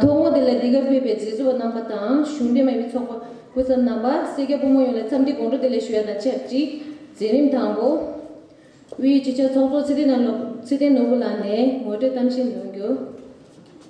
ཐོག་མོ་དེ་ལ་འདི་གར་ཕེབས་པའི་མཛད་གཙོ་བ་རྣམ་པ་དང་གཞུང་འབྲེལ་མ་ཡིན་པའི་ཚོགས་པ་སྐུ་ཚབ་རྣམ་པ་སེར་སྐྱ་ཕོ་མོ་ཡོངས་ལ་འཚམས་འདྲི་དགོངས་དྲོ་དེ་ལས་ཞུ་བ་དང་ཆབས་ཅིག་འཛིན་རིམ་དང་པོ་དབུས་སྤྱི་ཁྱབ་ཚོགས་གཙོ་ཚེ་བརྟན་ནོར་བུ་ལགས་ནས་ངོ་སྤྲོད་གཏམ་བཤད་འདོན་རྒྱུ།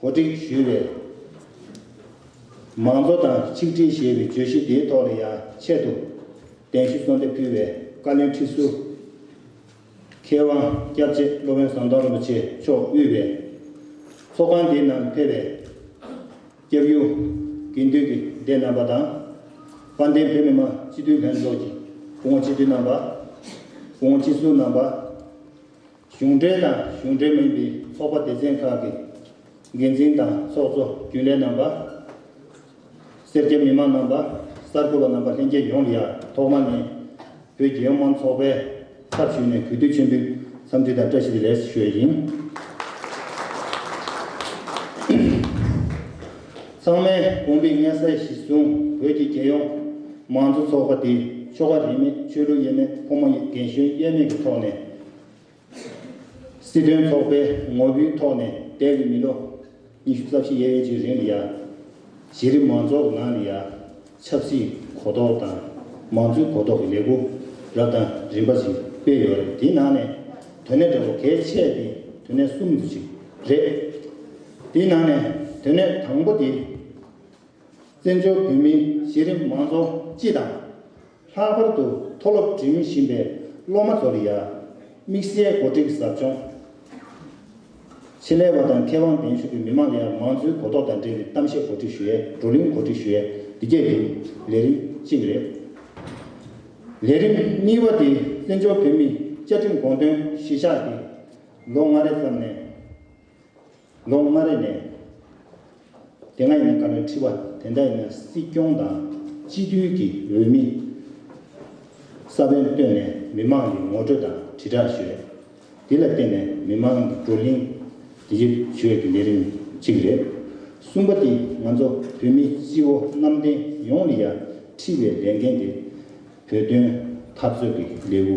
གོ་སྒྲིག་ཞུས་པའི་མང་གཙོ་དང་ཆིག་སྒྲིལ་ཞེས་པའི་བརྗོད་གཞི་དེའི་ཐོག་ལ་ཡང་ཆེད་དུ་གདན་ཞུ་གསོལ་འདེབས་ཕུལ་བའི་བཀའ་བློན་ཁྲི་ཟུར་མཁས་དབང་སྐྱབས་རྗེ་སློབ་དཔོན་ཟམ་གདོང་རིན་པོ་ཆེ་མཆོག་དབུས་པའི་ཚོགས་ཁང་དེའི་ནང་ཕེབས་པའི་སྐྱབས་ཡུལ་དགེ་འདུན་གྱི་སྡེ་རྣམ་པ་དང། དཔལ་ལྡན་བོད་མི་མང་སྤྱི་འཐུས་ལྷན་ཚོགས་ཀྱི་བུ་མོ་སྤྱི་འཐུས་རྣམ་པ། བུ་མོ་སྤྱི་ཟུར་རྣམ་པ། གཞུང་འབྲེལ་དང་གཞུང་འབྲེལ་མིན་པའི་ཚོགས་པ་སྡེ་ཚན་ཁག་གི་འགན་འཛིན་དང་ཚོགས་གཙོ་རྒྱུན་ལས་རྣམ་པ། སེར་སྐྱ་མི་དམངས་རྣམ་པ། གསར་འགོད་པ་རྣམ་པ་ལྷན་རྒྱས་ཡོངས་ལ་ཡང་ཐོག་མ་ནས་བོད་རྒྱལ་ཡོངས་མང་ཚོགས་པས་ཚབ་ཞུས་ནས་གུས་འདུད་ཆེན་པོའི་འཚམས་འདྲི་དང་བཀྲ་ཤིས་བདེ་ལེགས་སུ་ཞུ་བ་ཡིན། ཚང་མས་དགོངས་པའི་མངལ་གསལ་གཞི་བཟུང་བོད་ཀྱི་རྒྱལ་ཡོངས་མང་གཙོ་ཚོགས་པ་དེ་ཆོ་ག་རིས་མེད་ཆོས་ལུགས་དབྱེ་མེད་ཕོ་མོ་རྒན་གཞོན་དབྱེ་མེད་ཀྱི་ཐོག་ནས། སྲིད་དོན་ཚོགས་པའི་ངོ་བོའི་ཐོག་ནས་བལྟས་ཚེ་མི་ལོ་ཉི་ཤུ་རྩ་བཞི་ཡས་མས་ཀྱི་རིང་ལ་ཡང་གཞི་རིམ་མང་ཚོགས་ནང་ནས་ཡང་ཆབ་སྲིད་གོ་རྟོགས་དང་མང་གཙོའི་གོ་རྟོགས་ཀྱི་ལས་སྒོ་རབ་དང་རིམ་པ་ཞིག་སྤེལ་ཡོད་རེད་དེའི་ནང་ནས་དོན་གནད་འདྲ་བོ་གལ་ཆེ་དེ་དོན་གནད་གསུམ་དེ་ཞིག་རེད། དེའི་ནང་ནས་དོན་གནད་དང་པོ་དེ་བཙན་བྱོལ་བོད་མིའི་གཞི་རིམ་མང་ཚོགས་སྤྱི་དང། ལྷག་པར་དུ་མཐོ་སློབ་འགྲིམ་བཞིན་པའི་སློབ་མ་ཚོར་ཡང་དམིགས་བསལ་གོ་སྒྲིག་ཟབ་སྦྱོང། ཆེད་ལས་བ་དང་མཁས་དབང་གདན་ཞུ་གིས་མི་མང་ལ་ཡང་མང་གཙོའི་གོ་རྟོགས་དང་འབྲེལ་བའི་གཏམ་བཤད་གོ་སྒྲིག་ཞུས་ཡས་བགྲོ་གླེང་གོ་སྒྲིག་ཞུས་ཡས་འདི་བརྒྱད་ཀྱི་ལས་རིམ་གཅིག་རེད། ལས་རིམ་གཉིས་པ་དེ་བཙན་བྱོལ་བོད་མིའི་བཅའ་ཁྲིམས་དགོངས་དོན་གཞིར་བཞག་སྟེ་ལོ་ལྔ་རེ་ཙམ་ནས། ལོ་ལྔ་རེ་ནས་དེ་སྔ་ཡིན་ན་དཀའ་བའི་ཁྲི་པ་དེ་འདྲ་ཡིན་ན་སྲིད་སྐྱོང་དང་སྤྱི་མཐུན་གྱི་འོས་མི་ས་བོན་བཏོན་ནས་མི་མང་གི་ངོ་སྤྲོད་དང་དྲིལ་བསྒྲགས་ཞོད་འདི་ལ་བརྟེན་ནས་མི་མང་གི་བགྲོ་གླིང་དེ་ཡིད་ཆོས་ཀྱི་ལས་རིམ་གཅིག་རེད། གསུམ་པ་དེ་ང་ཚོ་བོད་མི་སྤྱི་བོ་གནམ་བསྟན་ཡོངས་ལ་ཡ་ཁྲི་བའི་ལས་འགན་དེ་བོད་དོན་འཐབ་རྩོད་ཀྱི་ལེའུ་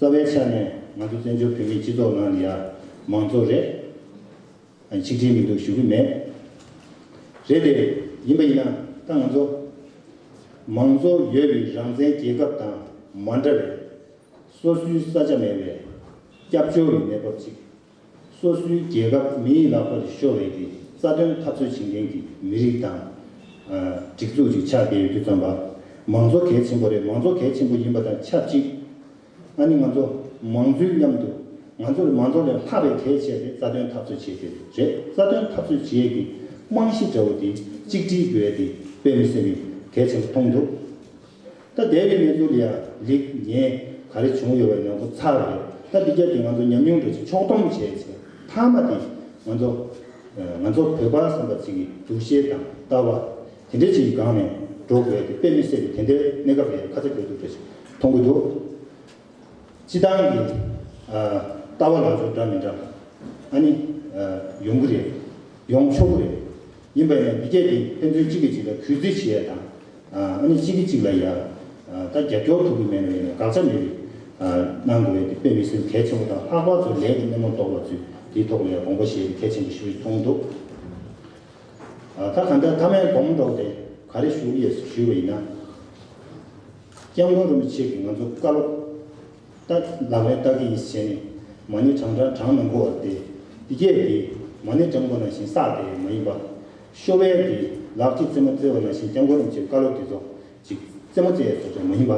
རྩ་བའི་ཆ་ནས་ང་ཚོ་བཙན་བྱོལ་བོད་མིའི་སྤྱི་ཚོགས་ནང་ནི་ཡང་མང་གཙོ་རེད། ཆིག་སྒྲིལ་མི་འདུག་ཞུ་གི་མེད། རེད་དེ། ཡིན་པ་ཡིན་ན་ད་ང་ཚོ་མང་གཙོ་ཡོད་པའི་རང་བཙན་རྒྱལ་ཁབ་དང་མ་འདྲ་བའི་སོ་སོའི་ས་ཆ་མེད་པའི་སྐྱབས་བཅོལ་བའི་གནས་བབ་ཅིག་སོ་སོའི་རྒྱལ་ཁབ་མི་ཡི་ལག་པར་ཤོར་བའི་གི་རྩ་དོན་འཐབ་རྩོད་བྱེད་མཁན་གྱི་མི་རིགས་དང། སྒྲིག་འཛུགས་ཅིག་ཆགས་བསྡད་ཡོད་རྒྱུ་བརྩམས་པ། མང་གཙོ་གལ་ཆེན་པོ་རེད་མང་གཙོ་གལ་ཆེན་པོ་ཡིན་པ་དང་ཆབས་ཅིག་ཨ་ནི་ང་ཚོ་མང་གཙོའི་མཉམ་དུ་ང་ཚོར་མང་གཙོ་ལས་ལྷག་པའི་གལ་ཆེ་དེ་རྩ་དོན་འཐབ་རྩོད་བྱེད་དེ་རེད་རྩ་དོན་འཐབ་རྩོད་བྱེད་ཀྱི་རྨང་གཞི་འདྲ་བོ་དེ་གཅིག་སྒྲིལ་དགོས་དེ་དཔེ་མི་སེམས་མི་གལ་ཆེན་པོ་མཐོང་འདུག། ད་འདས་པའི་གནས་ཚུལ་ལ་ཡང་ལེགས་ཉེས་ག་རེ་བྱུང་ཡོད་པ་ཡོངས་རྫོགས་ཚར་བ་རེད་ད་འདི་རྒྱབ་ཀྱི་ང་ཚོ་ཉམས་མྱོང་འདྲ་ཅིག་ཕྱོགས་སྡོམ་བྱས་ཚེ་མཐའ་མ་དེ་ང་ཚོ། ང་ཚོ་བོད་པ་བསམ་པ་ཅིག་གི་འདུ་ཤེས་དང་ལྟ་བ། དེ་འདྲ་ཅིག་གི་སྒང་ནས་འགྲོ་དགོས་ཏེ་དཔེ་མི་གསལ་བའི་དེ་འདྲའི་གནས་སྐབས་ལ་ཡང་ཁ་ཚ་དགོས་གཏུགས་འདྲ་ཅིག་མཐོང་གི་འདུག་སྤྱི་བཏང་གི་ལྟ་བ་ལག་འཇུག་འདྲ་མི་འདྲ་ཨ་ནི་ཡོང་གི་རེད་ཡོང་ཆོག་གི་རེད་ཡིན་པ་ཡིན་ན་འདི་རྒྱབ་ཀྱི་ཕན་ཚུན་གཅིག་གིས་གཅིག་ལ་གུས་བརྩི་བྱེད་ཡ་དང་ཨ་ནི་གཅིག་གིས་གཅིག་ལ་ཡང་ད་རྒྱབ་སྐྱོར་ཐུབ་ཀྱི་མེད་ནོ་ཡིན་ན་དགག་བྱ་མེད་པའི་གནང་དགོས་ཡོད་དེ་དཔེ་མི་སྲིད་གལ་ཆེན་པོ་དང་ལྷག་པར་དུ་ལས་ཀྱི་སྣེ་མོར་གཏོགས་པ་ཚོས་དེའི་ཐོག་ལ་ཡང་དགོངས་པ་བཞེས་རྒྱུ་གལ་ཆེན་པོ་ཞིག་རེད་མཐོང་འདུག་ད་ག་འདྲ་ཐ་མའི་དགོངས་མོ་འདོགས་ཏེ་ག་རེ་ཞུ་ཡས་སུ་ཞུས་པ་ཡིན་ན་སྐྱབས་མགོན་རིན་པོ་ཆེ་གིས་ང་ཚོ་བཀའ་སློབ། རྟགས། ལག་ལེན་རྟགས་ཀྱི་ཡིད་བྱེད་ནི། མ་ནི་གྲང་འདྲ་གྲང་མི་འགོ་བར་ཏེ། གཡས་ཏེ། མ་ནི་གྲང་འགོ་ན་བཞིན་བསགས་ཏེ་མ་ཡིན་པ། ཤོ་བལ་ཏེ། ལག་གཅིག་རྩེ་མོ་རྩེ་བ་ན་བཞིན་རྐྱང་འགོ་རིམ་བྱེད་བཀའ་སློབ་ཀྱི་རྫོགས། ཅིག། རྩེ་མོ་རྩེ་བ་ན་མ་ཡིན་པ།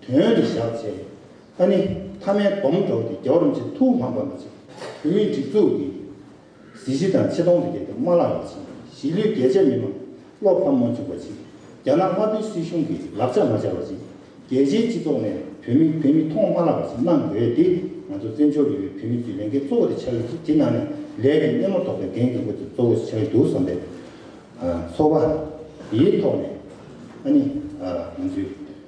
དོན་དུ་བཞག་བྱས་ནས། ཨ་ནི། ཐ་མའི་སྡོམ་འགྲོགས་ཏེ་རྒྱའོ་རིམ་བྱེད་ཐུགས་དམག་འབར་མ་ཅིག། བུད་མེད་སྒྲིག་འཛུགས་ཀྱི། གཟི་བརྗིད་དང་ཆེ་མཐོང་ལས་རྒྱལ་དུ་མ་བརླག་པ་བྱིན་གཞིས་ལུས་རྒྱལ་གཅེས་མི་དམངས་བློ་ཕམ་མ་འཇུག་པ་བྱིན་རྒྱ་ནག་དམར་པོའི་སྲིད་གཞུང་གི་ལག་ཆ་མ་སྦྱར་བ་བྱིན་རྒྱལ་སྤྱིའི་སྤྱི་ཚོགས་ནས་བོད་མི་བོད་མི་མཐོང་མ་བརླག་པ་བྱིན་གནང་དགོས་འདི་ང་ཚོ་བཙན་བྱོལ་ཡུལ་བོད་མི་ཀྱི་ལས་འགན་གཙོ་བོ་དེ་ཆགས་ཡོད་ཅིག་དེ་ནང་ནས་ལས་ཀྱི་སྣེ་མོར་གཏོགས་པའི་འགན་འཁུར་དགོས་དེ་གཙོ་བོ་ཆགས་ཡོད་འདུག་བསམ་པའི་ཚོར་བ་ཡི་ཐོག་ནས་ཨ་ནི་ང་ཚོའི།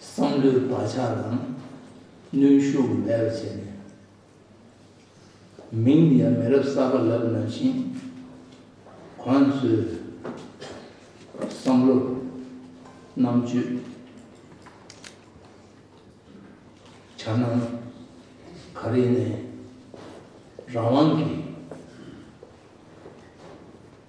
བསམ་བློའི་བག་ཆགས་དང་ནུས་ཤུགས་མེད་པར་བྱས་ནས། མིང་འདི་ཡང་མི་རབས་གསར་པ་ལབ་ན་ཞིང། ཁོང་ཚོའི་བསམ་བློ། རྣམ་དཔྱོད། བྱ་སྣང། ག་རེ་ནས་རང་དབང་གི།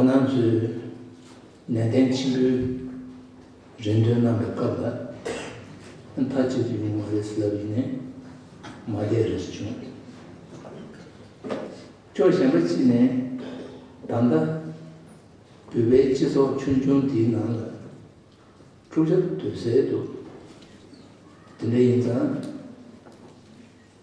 ཁོ་ནང་ཚོས་ནན་ཏན་ཆེན་པོས་རེ་འདུན་གནང་བའི་སྐབས་ལ་མཐའ་གཅིག་ཏུ་ཡོང་བ་རེད་ཟེར་བ་ཡིན་ནས་མ་བསྡད་རེ་ཟེར་བྱུང། ཕྱོགས་གཞན་པ་གཅིག་ནས་ད་ལྟ་བོད་པའི་སྤྱི་ཚོགས་ཆུང་ཆུང་འདིའི་ནང་ལ་འཁྲུག་ཆ་དོད་སེ་འདུག་དེ་འདྲ་ཡིན་ཙང།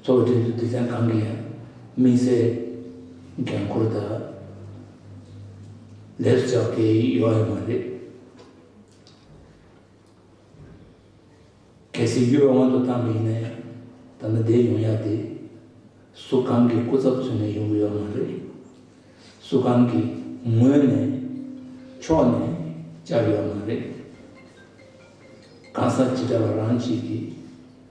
གཙོ་བོ་དེ་ཚོས་སྡེ་ཚན་གང་གི་ཡང་དམིགས་བསལ་འགན་ཁུར་དག་ལས་སུ་བྱ་བ་དེ་ཡོང་ཡ་མ་རེད། གལ་སྲིད་གཡུ་བ་དབང་དུ་བཏང་གི་ཡིན་ན་ཡང་ད་ལྟ་འདས་ཡོང་ཡ་དེ་སུ་གང་གི་སྐུ་ཚབ་ཚུད་ནས་ཡོང་གི་ཡོད་མ་རེད། སུ་གང་གི་ངོས་ནས་ཕྱོགས་ནས་བཅར་ཡོད་མ་རེད། གང་ཟག་ཇི་འདྲ་བ་རང་གཅིག་གིས།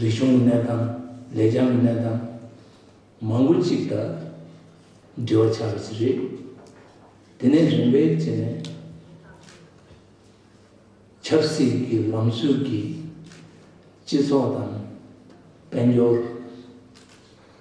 རིག་གཞུང་གི་གནས་སྟངས་ལེགས་བྱང་གི་གནས་སྟངས་མང་པོ་གཅིག་དང་འབྲེལ་བ་ཆགས་པ་ཞིག་རེད། དེ་ནས་རིམ་པས་བྱས་ནས་ཆབ་སྲིད་ཀྱི་ལམ་སྲོལ་གྱིས་སྤྱི་ཚོགས་དང་དཔལ་འབྱོར།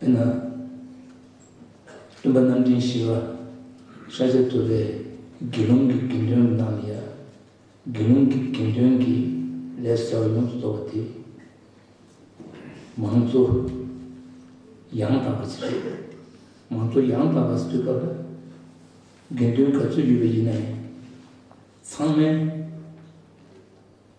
དཔེར་ན། སྟོན་པ་རྣམ་འདྲེན་ཞི་བ་ཤཱཀྱ་ཐུབ་པས་དགེ་སློང་གི་དགེ་འདུན་རྣམས་ལ་ཡང་དགེ་སློང་གི་དགེ་འདུན་གྱི་ལས་ཟེར་བ་ཡོངས་སུ་རྫོགས་པ་དེ་མང་གཙོ་ཡང་དག་པ་ཞིག་རེད། མང་གཙོ་ཡང་དག་པ་ཞིག་གི་སྐབས་ལ་དགེ་འདུན་ག་ཚོད་ཡོད་པ་ཡིན་ན་ཡང་ཚང་མས།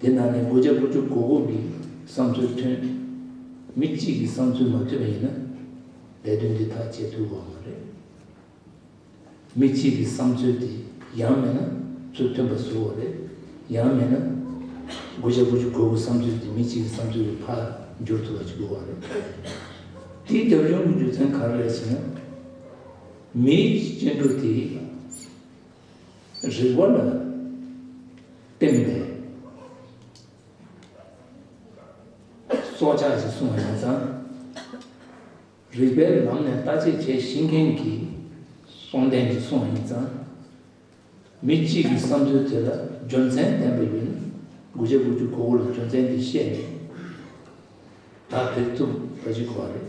དེ་ནང་ནས་དགུ་བརྒྱ་དགུ་བཅུ་གོ་དགུ་གི་བསམ་ཚུལ་མཐུན། མི་གཅིག་གི་བསམ་ཚུལ་མ་མཐུན་པ་ཡིན་ན། ལས་དོན་འདི་ཐག་བཅད་ཐུབ་དགོས་བ་མ་རེད། མི་གཅིག་གི་བསམ་ཚུལ་དེ་ཡང་མེད་ན་ཚུལ་མཐུན་པ་བཟོ་བ་རེད། ཡང་མེད་ན། དགུ་བརྒྱ་དགུ་བཅུ་གོ་དགུ་བསམ་ཚུལ་དེ་མི་གཅིག་གི་བསམ་ཚུལ་གྱི་ཕར་འགྱུར་ཐུབ་པ་ཞིག་དགོས་བ་རེད། དེའི་རྒྱབ་ལྗོངས་ཀྱི་རྒྱུ་མཚན་ག་རེ་རེད་ཟེར་ན། མིའི་སྐྱེ་འགྲོ་དེ། རིག་པ་ལ་བརྟེན་ནས་སྲོག་ཆགས་ཀྱི་སྲུང་བ་ཡིན་ཙང། རིག་པའི་ལམ་ནས་ལྟ་དཔྱད་བྱེད་ཤེས་མཁན་གྱི་སྲོང་བརྟན་གྱི་སྲུང་བ་ཡིན་ཙང། མི་གཅིག་གི་བསམ་ཚུལ་དེ་ལ་རྒྱུ་མཚན་ལྡན་པ་ཡིན། དགུ་བྱ་དགུ་བཅུ་གོ་དགུ་ལ་རྒྱུ་མཚན་འདི་བཤད་ནས་ད་བེད་ཐུབ་ད་ཅི་གོ་བ་རེད།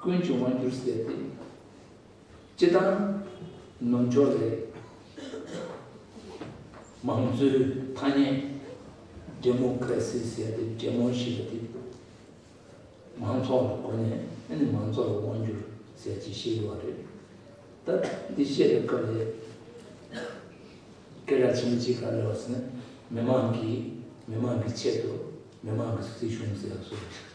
ཀུན་འབྱུང་བར་འགྱུར་ཟེར་ཏེ། སྤྱི་བཏང་ནོར་འཆོར་རེད། མང་གཙོའི་ཐ་སྙད་འདྲེ་མོ་ཀ་ར་སི་ཟེར་ཏེ་འདྲེ་མོ་ཞིག་ལ་དེ་མང་ཚོགས་ལ་གོ་ནས་ཨ་ནི་མང་ཚོགས་ལ་དབང་བསྒྱུར་ཟེར་གྱི་ཤི་ལུས་བ་རེད། ད་འདི་བཤད་པའི་སྐབས་ལས་སྐད་གྲགས་ཆེན་པོ་ཅི་ག་ལ་ཡོད་ཟེར་ན་མི་མང་གིས་མི་མང་གི་ཆེད་དུ་མི་མང་གི་སྲིད་གཞུང་ཟེར་བ་སུ་རེད།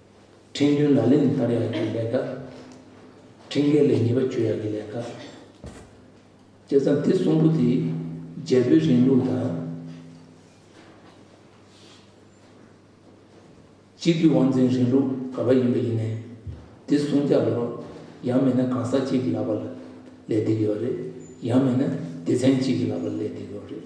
ཁྲེང་ཏུའུ་ལ་ལེ་ནི་ཕར་ཡག་གི་ལས་ཀ། ཁྲེང་ཀའེ་ལེ་ཉེས་པ་བཅོས་ཡག་གི་ལས་ཀ། བཅས་ཙམ་སྟེ་གསུམ་པོ་དེ་རྒྱལ་པོའི་རིང་ལུགས་དང། སྤྱི་འཐུས་དབང་འཛིན་རིང་ལུགས་ག་པ་ཡིན་པ་ཡིན་ནས་དེ་གསུང་རྒྱག་ལོ་རོགས་ཡང་མེད་ན་གང་ཟག་གཅིག་གི་ལག་པ་ལ་ལས་འདེད་ཀྱི་བ་རེད་ཡང་མེད་ན་སྡེ་ཚན་གཅིག་གི་ལག་པ་ལ་ལས་འདེད་ཀྱི་བ་རེད།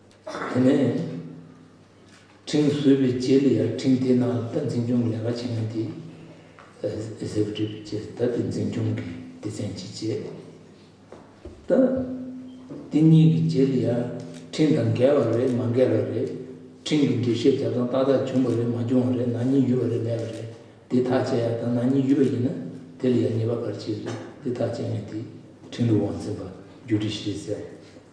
དེ་ནས་ཕྲིན་བཟོད་པའི་རྗེས་ལ་ཡང་ཕྲིན་དེ་རྣམས་ལ་ད་འཛིན་སྐྱོང་གི་ལས་ཀ་བྱེད་ན་དེ་ཟས་བྲིས་པའི་རྗེས་ད་དེ་འཛིན་སྐྱོང་གི་སྡེ་ཚན་གྱི་རྗེས་ད་དེ་གཉིས་ཀྱི་རྗེས་ལ་ཡང་ཕྲིན་དང་འགལ་བ་རེད་མ་འགལ་བ་རེད་ཕྲིན་གྱི་འགྲེལ་བཤད་བྱ་སྟངས་ཏག་ཏག་བྱུང་བ་རེད་མ་བྱུང་བ་རེད་ནང་ཉིད་ཡུལ་བ་རེད་མེད་པ་རེད་དེ་ཐག་བཅད་ཡག་དང་ནང་ཉིད་ཡུལ་བ་ཡིན་ན་དེ་ལ་ཡང་ཉེས་པ་གར་བྱེད་རེད་དེ་ཐག་བཅད་ངེས་དེ་ཕྲིན་ལས་དབང་འཛིན་པ་རྒྱུད་བྲིས་ཤིག་ཟེར།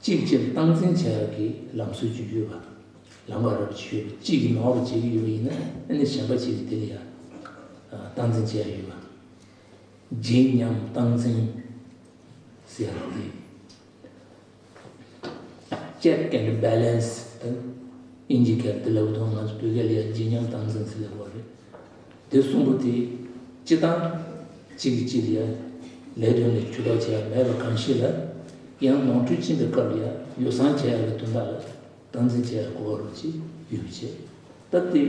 གཅིག་སྤྱིར་བཏང་འཛིན་བྱ་ཡག་གི་ལམ་སྲོལ་བརྒྱུད་ཡོད་པ་དང་ལམ་ཁ་རག་བྱེད་ཡོད་པ་གཅིག་གིས་མང་བ་བྱེད་ཀྱི་ཡོད་པ་ཡིན་ན་ནི་གཞན་པ་གཅིག་གིས་དེ་ལ་ཡང་བཏང་འཛིན་བྱེད་ཡག་ཡོད་པ། བརྗིད་ཉམས་བཏང་འཛིན་ཟེར་ཡག་དེ། Check and Balance དང་ཨིན་ཇི་སྐད་དུ་ལབ་དོ་ང་ཚོ་བོད་སྐད་ལ་ཡང་བརྗིད་ཉམས་བཏང་འཛིན་ཟེར་ལབ་པ་རེད། དེ་གསུམ་པོ་དེ་སྤྱི་བཏང། གཅིག་གིས་གཅིག་ལ་ལས་དོན་ལས་ཇུས་ལྡོག་བྱས་ཡ་མེད་པ་གང་ཞིག་ལ་ཡང་ནོར་འཁྲུལ་ཕྱིན་པའི་སྐབས་ཡ་ཡོ་བསྲང་བྱས་ཡ་བའི་དོན་དག་ལ་སྟངས་འཛིན་བྱས་ཡ་གོ་བ་རུ་གཅིག་ཡོད་པའི་ཆེད་སྟབས་བདེ་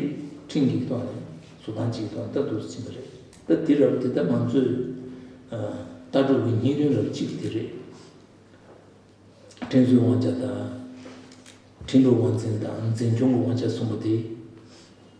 འཕྲིན་གྱིས་ཐོག་ནས་བཟོ་སྟངས་གཅིག་གི་ཐོག་ནས་ལྟ་འདོགས་སུ་ཕྱིན་པ་རེད་སྟབས་དེ་རབ་དེ་ལྟ་ང་ཚོས་ལྟ་གྲུབ་ཀྱི་སྙིང་རིན་རབ་གཅིག་དེ་རེད། བསྟེན་གསོལ་དབང་ཆ་དང། འཕྲིན་སྒྲོག་དབང་འཛིན་དང་འཛིན་སྐྱོང་གི་དབང་ཆ་གསུམ་པོ་དེ།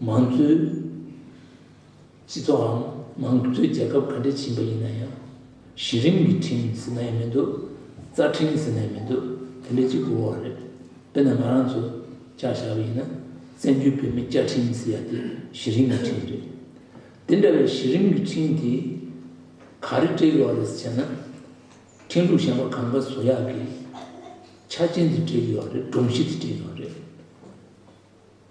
མང་གཙོའི་སྤྱི་ཚོགས་འམ་མང་གཙོའི་རྒྱལ་ཁབ་ག་འདྲས་ཕྱིན་པ་ཡིན་ན་ཡང་གཞི་རིམ་གྱི་ཁྲིམས་ཟེར་ན་ཡང་མི་འདུག་རྩ་ཁྲིམས་ཟེར་ན་ཡང་མི་འདུག་དེ་འདྲས་གཅིག་པུའོ་རེད། དཔེར་ན་ང་རང་ཚོ་བཅའ་བཞག་པ་ཡིན་ན་བཙན་བྱོལ་བོད་མིའི་བཅའ་ཁྲིམས་ཟེར་ཡ་དེ་གཞི་རིམ་གྱི་ཁྲིམས་རེད། དེ་འདྲ་བའི་གཞི་རིམ་གྱི་ཁྲིམས་དེ་ག་རེ་སྤྲད་ཀྱི་ཡོད་རེད་ཟེར་ན། ཁྲིམས་ལུགས་གཞན་པ་གང་ག་བཟོ་ཡག་གི་ཆ་ཅན་དེ་སྤྲད་ཀྱི་ཡོད་རེད་སྒྲོམ་གཞི་དེ་སྤྲད་ཀྱི་ཡོད་རེད།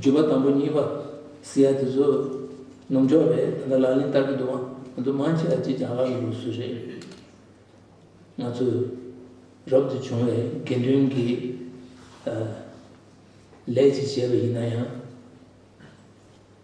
བརྗོད་པ་དང་པོ་གཉིས་པ་སི་ཡ་དེ་ཚོ་ནོམ་འཇོག་རེད་ད་ལྟ་ལག་ལེན་བསྟར་གྱི་འདུག་ང་ཚོ་མང་ཆེ་བ་ཅི་བྱ་ག་ལ་ཡོད་སུ་རེད་ང་ཚོས་རབ་ཏུ་བྱུང་བའི་དགེ་འདུན་གྱི་ལས་ཅིག་བྱས་པ་ཡིན་ན་ཡང།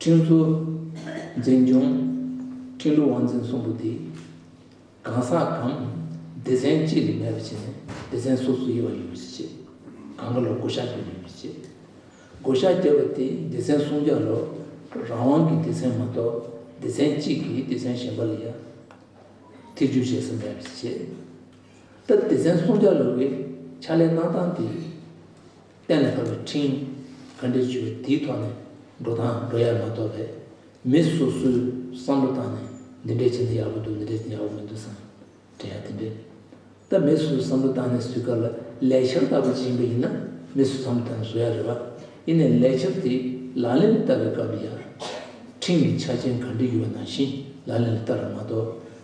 ཁྲིན་ཏུའུ། འཛིན་སྐྱོང། ཁྲིན་ཏུའུ་ཝང་ཚན་གསུམ་པོ་དེ། གང་ཟག་གམ། སྡེ་ཚན་གཅིག་ལས་མེད་པ་བྱས་ནས་སྡེ་ཚན་སོ་སོའི་དབྱེ་བ་ཡོད་པ་ཞིག་བྱེད། གང་ག་ལ་བགོ་བཤའ་རྒྱག་ཡོད་མེད་བྱེད། བགོ་བཤའ་རྒྱག་པ་དེ་སྡེ་ཚན་སུམ་བརྒྱ་ལོ། རང་དབང་གི་སྡེ་ཚན་མ་གཏོགས་སྡེ་ཚན་གཅིག་གིས་སྡེ་ཚན་གཞན་པ་ལ་ཡང། ཐེ་ཇུས་བྱེད་ས་མེད་པ་ཞིག་བྱེད། ད་སྡེ་ཚན་སུམ་བརྒྱ་ལོ་བའི་ཕྱག་ལས་གནང་སྟངས་དེ། གཏན་ལ་ཕབ་པའི་འཕྲིན། ག་འདྲའི་ཆོས་འདིའི་ཐོག་ནས་འགྲོ་དང་འགྲོ་ཡ་མ་གཏོགས་པས། མི་སོ་སོའི་བསམ་བློ་བཏང་ནས་འདི་འདྲའི་བྱས་ན་ཡག་པོ་འདུག་འདི་འདྲའི་བྱས་ན་ཡག་པོ་མི་འདུག་བསམ་དྲན་ཡ་དེ་འདྲའི། ད་མི་སོ་སོའི་བསམ་བློ་བཏང་ནས་བཟོས་སྐབས་ལ་ལས་འཆར་ལྟ་བུ་ཅན་པ་ཡིན་ན་མི་སོ་བསམ་བློ་བཏང་ནས་བཟོ་ཡ་རེད་བ། ཡིན་ནའི་ལས་འཆར་དེ་ལག་ལེན་ལ་བསྟར་བའི་སྐབས་ལ་ཡར། འཕྲིན་གྱི་ཆ་རྐྱེན་ག་འདྲི་ཡོད་ན་བཞིན་ལག་ལེན་ལ་བསྟར་བ་མ་གཏོགས།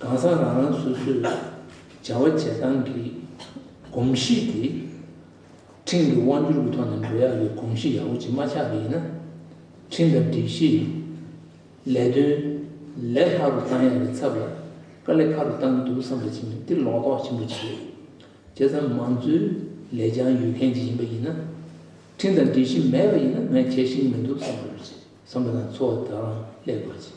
གང་ཟག་རང་རང་སོ་སོས་བྱ་བ་བྱེད་སྟངས་ཀྱི་གོམས་གཤིས་དེ་ཁྲིམས་ཀྱི་དབང་བསྒྱུར་གྱི་ཐོག་ནས་འགྲོ་ཡག་གི་གོམས་གཤིས་ཡག་པོ་ཅིག་མ་ཆགས་པ་ཡིན་ན་ཁྲིམས་དང་སྒྲིག་གཞིས་ལས་དོན་ལས་ལྷག་ཏུ་གཏང་ཡག་གི་ཚབ་ལ་དཀའ་ལས་ཁག་ཏུ་གཏང་གི་འདུག་བསམ་པ་བྱིན་འདི་ལོག་རྟོག་ཆེན་པོ་ཅིག་རེད་བྱས་ཙང་མང་གཙོའི་ལས་བྱང་ཡོད་མཁན་ཅིག་ཡིན་པ་ཡིན་ན་ཁྲིམས་དང་སྒྲིག་གཞི་མེད་པ་ཡིན་ན་ངས་བྱེད་བཞིན་མི་འདུག་བསམ་པ་དང་འཚོ་བ་དག་རང་སླད་དགོས་ཅིག།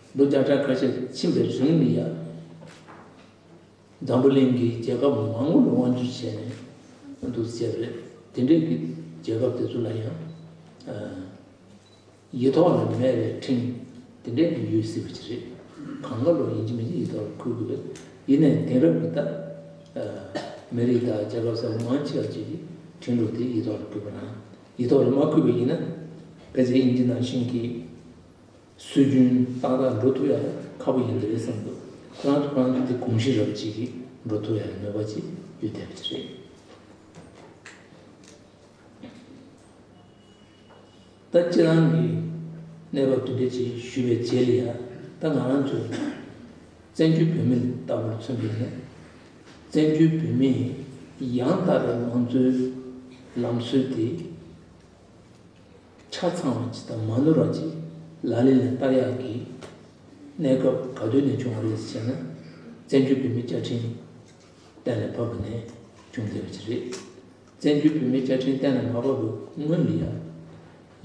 མདོ་བརྒྱ་ཕྲག་ཁ་ཤས་ཕྱིན་པའི་རིང་ལི་ཡ་འཛམ་བུ་གླིང་གི་རྒྱལ་ཁབ་མང་བོ་ལ་དབང་བསྒྱུར་བྱས་ནས་འདུག་ཟེར་བས་དེ་འབྲེལ་གྱི་རྒྱལ་ཁབ་དེ་ཚོ་ལ་ཡང་ཡིག་ཐོག་ལ་མེད་པའི་འཕྲིན་དེ་འདྲས་ནི་ཡོད་སྲིད་པ་ཅི་རེད་གང་ལ་ལོ་ཡིན་གྱི་མིན་གྱི་ཡིག་ཐོག་ལ་འཁོད་དགོས་པས་ཡིན་ནའི་དེང་རབས་ཀྱི་ད་མི་རིགས་དང་རྒྱལ་ཁབ་གསར་བ་མང་ཆེ་བ་བཅས་ཀྱི་འཕྲིན་ལུགས་དེ་ཡིག་ཐོག་ལ་འཁོད་པ་ན་ཡིག་ཐོག་ལ་མ་འཁོད་པ་ཡིན་ན་ཕལ་ཆེར་དབྱིན་ཇི་ནང་བཞིན་གྱི། སྲོལ་རྒྱུན་སྟག་ར་འགྲོ་ཐུབ་ཡག་ཁ་པོ་ཡིན་གྱི་རེད་བསམ་འདུག་ཁོ་རང་ཐོག་ཁང་གི་དེ་གོང་ཤི་རབས་ཅིག་གིས་འགྲོ་ཐུབ་ཡག་གི་ནུས་པ་ཅིག་ཡོད་བསྡད་པ་དེ་རེད། ད་ཁྱེད་རང་གིས་གནས་བབ་འདི་འདྲ་ཅིག་ཞུས་པའི་རྗེས་ལ་ཡང་ད་ང་རང་ཚོས་བཙན་བྱོལ་བོད་མི་ལྟ་བུར་མཚོན་པས་ན་བཙན་བྱོལ་བོད་མིས་ཡང་དག་པའི་མང་གཙོའི་ལམ་སྲོལ་དེ། ཆ་ཚང་བ་ཇི་ལྟར་མ་ནོར་བ་ཅིག་ལ་ལས་ལ་བསྟར་ཡག་གི། གནས་སྐབས་ག་དུས་ནས་བྱུང་བ་རེད་ཟེར་ན། བཙན་བྱོལ་བོད་མིའི་བཅའ་ཁྲིམས་གཏན་ལ་ཕབ་པ་ནས་བྱུང་བསྡད་པ་ཅིག་རེད། བཙན་བྱོལ་བོད་མིའི་བཅའ་ཁྲིམས་གཏན་ལ་མ་ཕབ་པའི་སྔོན་ལ་ཡང།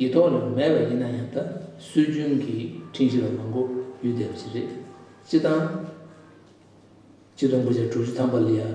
ཡིག་ཐོག་ལ་མེད་པ་ཡིན་ན་ཡང་ད་སྲོལ་རྒྱུན་གྱི་ཁྲིམས་གཞི་ལ་མ་གོ་ཡོད་བསྡད་པ་ཅིག་རེད། སྤྱི་སྟངས། སྤྱི་དོན་དགུ་བརྒྱ་དྲུག་ཅུ་ཐམ་པ་ལ་ཡང།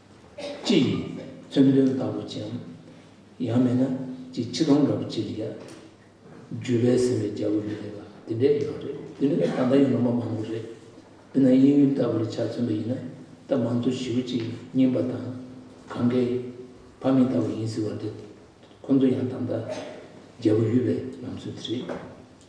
ཅི་ཡིན། བཙུན་དོན་ལྟ་བུ་ཅན། ཡང་མིན་ན། ཅིག་ཕྱི་སྟོང་འདྲ་བོ་ཅི་ལ་ཡ། བརྒྱུད་པས་ཟིན་པའི་རྒྱལ་པོ་ཡིན་ནི་ལགས་དེ་འདྲའི་ཡང་རེད་དེ་ནི་ད་ལྟ་ཡང་ལོ་མ་མང་པོ་རེད་དེ་ན་དབྱིན་ཡུལ་ལྟ་བུ་ལ་ཆ་མཚོན་པ་ཡིན་ན་ད་མང་གཙོ་ཞི་བུ་ཅིག་རྙིང་པ་དང། གང་གཱའི། ཕ་མེས་ལྟ་བུ་ཡིན་ཟེར་བ་འདི། ཁོ་ཚོ་ཡང་ད་ལྟ། རྒྱལ་པོ་ཡུལ་བའི་ལམ་སྲོལ་དེ་རེད།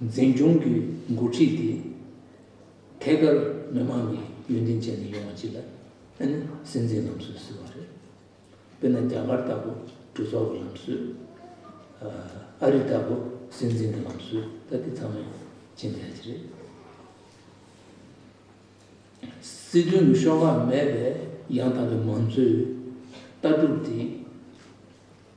འཛིན་སྐྱོང་གི་འགོ་ཁྲིད་དེ་ཐད་ཀར་མི་མང་གི་ཡོན་ཏན་ཅན་ནས་ཡོང་བ་ཅིག་ལ་ཨ་ནི་སྲིད་འཛིན་ལམ་སྲོལ་ཟེར་བ་རེད། དཔེར་ན་རྒྱ་གར་ལྟ་བུ་གྲོས་ཚོགས་ཀྱི་ལམ་སྲོལ། ཨ་རི་ལྟ་བུ་སྲིད་འཛིན་གྱི་ལམ་སྲོལ་ད་དེ་ཚང་མས་ཇི་འདྲ་ཞིག་རེད། སྲིད་དོན་གྱི་ཤོག་ཁག་མེད་པའི་ཡང་དག་པའི་མང་གཙོའི་ལྟ་གྲུབ་དེ།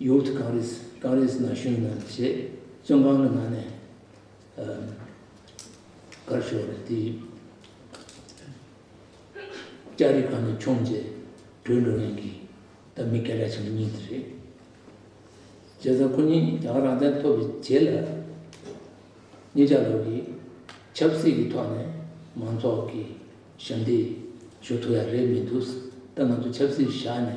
ཡོད་ཀྱི་གངས་རིས་གངས་རིས་ན་བཞུགས་ན་ཞེས་བཙོན་ཁང་གི་ནང་ནས་དགར་ཞོར་རེད་དེ། ལྕགས་རི་གང་ནས་མཆོངས་རྗེས་བྲོས་འགྲོ་མཁན་གྱི་ད་མི་སྐད་གྲགས་ཆེན་པོ་གཉིས་དེ་རེད། བྱས་ཙང་ཁོ་གཉིས་རྒྱ་གར་རང་བཙན་ཐོབ་པའི་རྗེས་ལ་གཉིས་ཆ་ལོག་གིས་ཆབ་སྲིད་ཀྱི་ཐོག་ནས་མང་ཚོགས་ཀྱི་ཞབས་འདེགས་ཞུ་ཐུབ་ཡག་རེད་མི་འདུག་ད་ང་ཚོ་ཆབ་སྲིད་བཞག་ནས་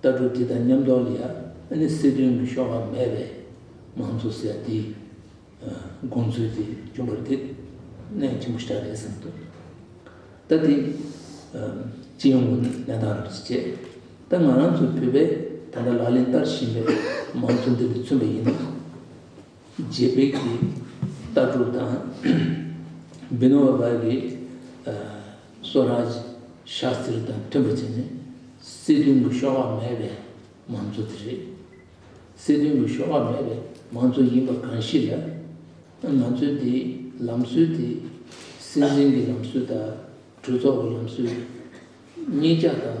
ལྟ་གྲུབ་འདི་དང་མཉམ་འདོར་ལ་ཡང་ནི་སྲིད་དོན་གྱི་ཤོག་ལྷག་མེད་པས་མང་གཙོ་ཟེར་འདི་དགོངས་ཚུལ་དེ་རྒྱུན་པར་དེ་གནད་ཆེན་པོ་ཞིག་རེད་བསམ་འདུག་ད་དེ་ཅི་ཡོང་གི་གནས་སྟངས་རེད་ཅེས་བྱས་ད་ང་རང་ཚོའི་བོད་པས་ད་ལྟ་ལག་ལེན་བསྟར་བཞིན་པའི་མང་གཙོ་འདི་ལ་མཚོན་པ་ཡིན་ན། རྗེ་འབེག་གི་རྟ་དྲུག་དང། སྦི་ནོ་བ་བར་གྱི་སོ་རཱ་ཇི་ཤཱ་སྟིར་དང་མཐུན་པ་བྱས་ནས་སྲིད་དོན་གྱི་གཤོག་པ་མེད་པའི་མང་གཙོ་དེ་རེད། སྲིད་དོན་གྱི་གཤོག་པ་མེད་པའི་མང་གཙོ་ཡིན་པ་གང་ཞིག་ལ། མང་གཙོའི་དེའི་ལམ་སྲོལ་དེ་སྲིད་འཛིན་གྱི་ལམ་སྲོལ་དང་གྲོས་ཚོགས་ཀྱི་ལམ་སྲོལ་གཉིས་ཆ་དང།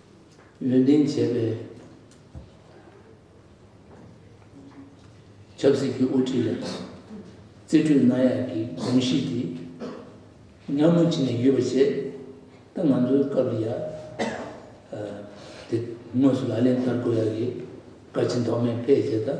ནུས་ལྡན་བྱེད་པའི་ཆབ་སྲིད་ཀྱི་དབུ་ཁྲིད་ལ་རྩིས་སྤྲོད་གནང་ཡག་གི་གོམས་གཤིས་དེ་མཉམ་མུ་ཅི་ནས་ཡོད་པ་བྱས་ད་ང་ཚོའི་སྐབས་ལ་ཡག་དེ་དངོས་སུ་ལག་ལེན་བསྟར་དགོས་ཡག་གི་བཀའ་སྤྱི་མདོ་སྨད་བེད་སྤྱད་ད།